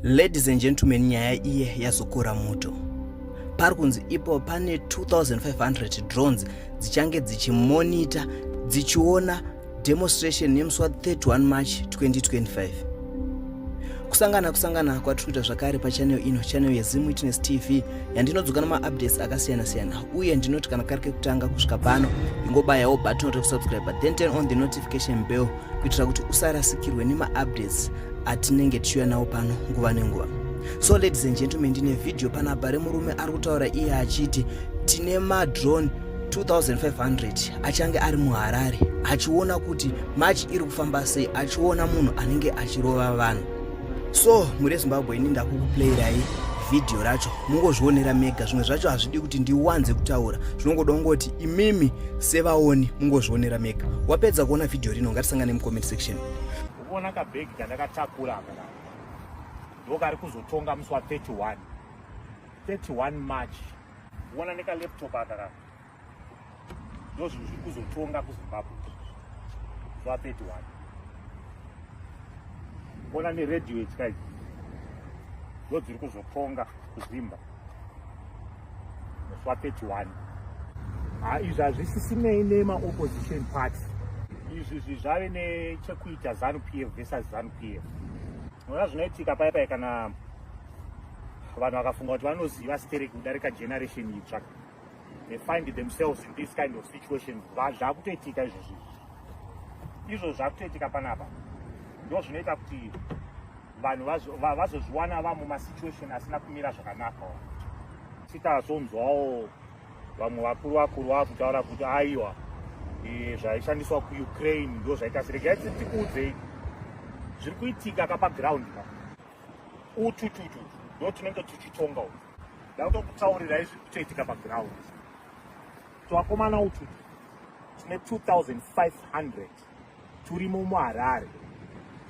Ladies and gentlemen, nyaya iye yazokora moto. Pari kunzi ipo pane 2500 drones dzichange dzichimonita dzichiona demonstration yemusi wa 31 March 2025. kusangana kusangana kwatiri kuita zvakare pachanel ino chanel yezim witness tv yandinodzoka nemaupdates akasiyana-siyana uye ndinoti kana kari kekutanga kusvika pano ingobayawo button rekusubscribe then turn on the notification bell kuitira kuti usarasikirwe nemaupdates atinenge tichiuya nawo pano nguva nenguva so ladies and gentlemen ndine vhidhiyo panapa remurume ari kutaura iye achiti tine madrone 2500 achange ari muharare achiona kuti march iri kufamba sei achiona munhu anenge achirova vanhu so muri zimbabwe ini ndakukuplayirai vhidhiyo racho mungozvionera mega zvimwe zvacho hazvidi kuti ndiwanze kutaura zvinongoda kungoti imimi sevaoni mungozvionera mega wapedza kuona vhidhiyo rino ngatisangane mucomment section ukuona kabhegi kandakatakura aka ndokari kuzotonga musi wa 31 31 march uona nekalaptop aka ka ndozvinhu zviri kuzotonga kuzimbabwe zuva 31 kuona neredio ityka idzi ndo dziri kuzotonga kuzimba zuva 31 ah, izvi hazvisisinei nemaopposition party izvi zvi zvave nechekuita zanu p f versus zanu p f ona zvinoitika paya paya kana vanhu vakafunga kuti vanoziva stereki kudarika generation itsva they find themselves in this kind of situations zvakutoitika izvo zvinhu izvo zvakutoitika panapa ndo zvinoita kuti vanhu vazozviwana va, va vamumasituation asina kumira zvakanaka sitazonzwawo vamwe vakuru vakuru vakutaura kuti aiwa e, zvaishandiswa kuukraine ndo zvaita siregai tikuudzei zviri kuitika kapaground utututu ndo tinenge tichitonga u ndautokutaurirai zviri kutoitika paground twakomana ututu tine 2500 turimo muharare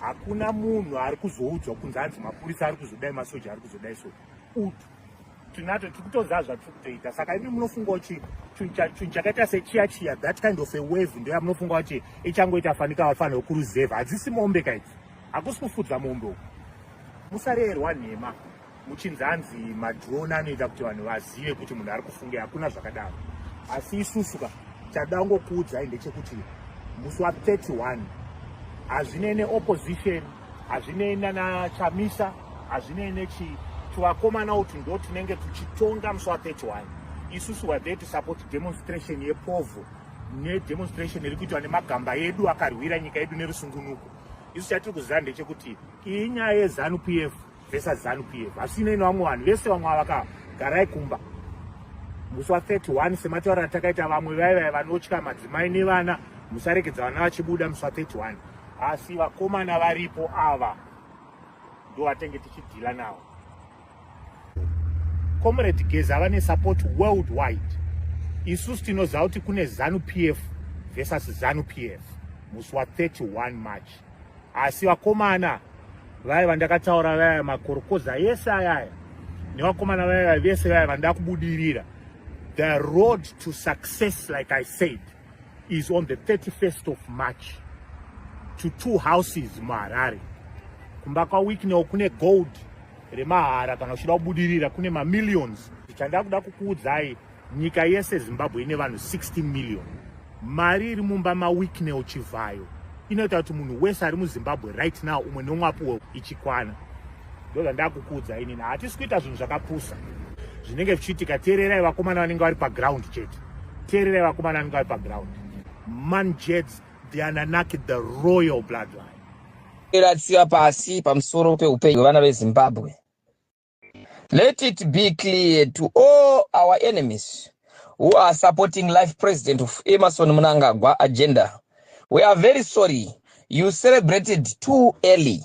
hakuna munhu ari kuzoudzwa kunzi anzi mapurisa ari kuzodai masoja ari kuzodai so utu tinato tiri kutoziva zvatiri kutoita saka imi munofunga kuti chinhu chakaita sechiya chiya that kind of a wave ndoya munofunga kuti ichangoita fanika vafanira kuruzevha hadzisi mombe kaidzi hakusi kufudza mombe uku musarerwa nhema muchinzi hanzi madrone anoita kuti vanhu vazive kuti munhu ari kufunge hakuna zvakadaro asi isusu ka chadangokuudzai ndechekuti musi wa 31 hazvinei neopposition hazvinei nana chamisa hazvinei nechi tuvakomana uti ndo tinenge tuchitonga musi wa 31 isusu were there to support demonstration yepovo nedemonstration iri kuitwa nemagamba edu akarwira nyika yedu nerusungunuko isu chatiri kuziva ndechekuti iyi nyaya yezanu p f vesa zanu p f hasinei nevamwe vanhu vese vamwe avakagarai kumba musi wa 31 semataura atakaita vamwe vaivai vanotya madzimai nevana musarekedza vana vachibuda musi wa 31 asi vakomana varipo ava ndovatenge tichidhila navo Comrade Geza vane support worldwide. Isusu tinoziva kuti kune Zanu PF versus Zanu PF musi wa 31 March. Asi vakomana vaya vandakataura vaya makorokoza yese ayaya nevakomana vaya vese vaya vandakubudirira the road to success like I said is on the 31st of March to two houses muHarare. Kumba kwaWicknell kune gold remahara kana uchida kubudirira kune mamillions. Chanda kuda kukuudzai nyika yese Zimbabwe ine vanhu 16 million. Mari iri mumba maWicknell Chivhayo inoita kuti munhu wese ari muZimbabwe right now umwe nomwe apuwe ichikwana. ndozvandakukuudza inini hatisi kuita zvinhu zvakapusa zvinenge zvichiitika teererai vakomana vanenge vari paground chete teererai vakomana vanenge vari paground manjets the ananaki the royal bloodline iratsiva pasi pamusoro peupenyu hwevana vezimbabwe let it be clear to all our enemies who are supporting life president of emerson munangagwa agenda we are very sorry you celebrated too early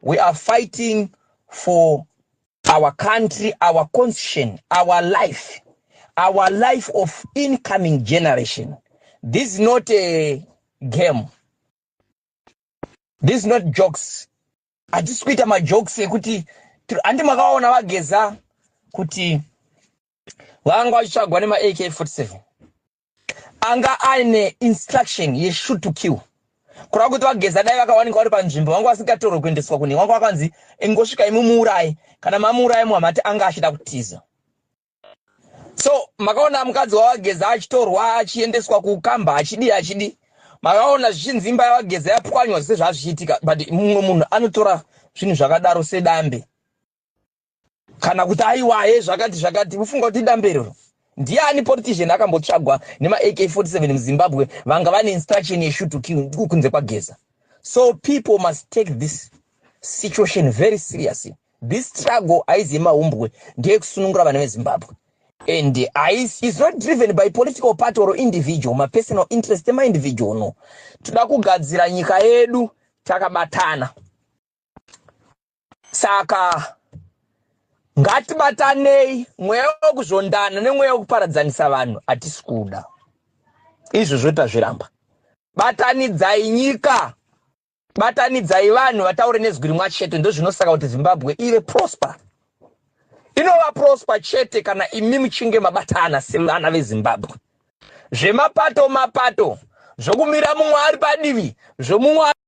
We are fighting for our country, our constitution, our life, our life of incoming generation. This is not a game. This is not jokes. Hatisi kuita majokes ekuti handi makaona vageza kuti vanga vachitsvagwa nemaAK 47 Anga aine instruction ye shoot to kill. Kurava kuti vageza dai vakawanikwa vari panzvimbo vanga vasingatorwe kuendeswa kune wanga wakanzi ingosvika imumuuraye kana mamuuraye muhamati anga achida kutiza. So makaona mukadzi wavageza achitorwa achiendeswa kukamba achidii achidii makaona zvichinzi imba yavageza yapwanywa zvese zvazvichiitika but mumwe munhu anotora zvinhu zvakadaro sedambe kana kuti aiwaye zvakati zvakati kufunga kuti idamberero ndiani politician akambotsvagwa nemaak 47 muzimbabwe vanga vane instruction yeshut to kill kunze kwageza so people must take this situation very seriously this struggle haizi yemahumbwe ndeyekusunungura vana vezimbabwe and is not driven by political party or individual mapersonal interest emaindividual no toda kugadzira nyika yedu takabatana Saka ngatibatanei, mweya wekuzondana nemweya wekuparadzanisa vanhu hatisi kuda. Izvozvo tazviramba. Batanidzai nyika, batanidzai vanhu vataure nezwi rimwa chete, ndozvinosaka kuti Zimbabwe ive prosper. Inova prosper chete kana imi muchinge mabatana sevana veZimbabwe. Zvemapato mapato zvokumira mumwe ari padivi zvomumwe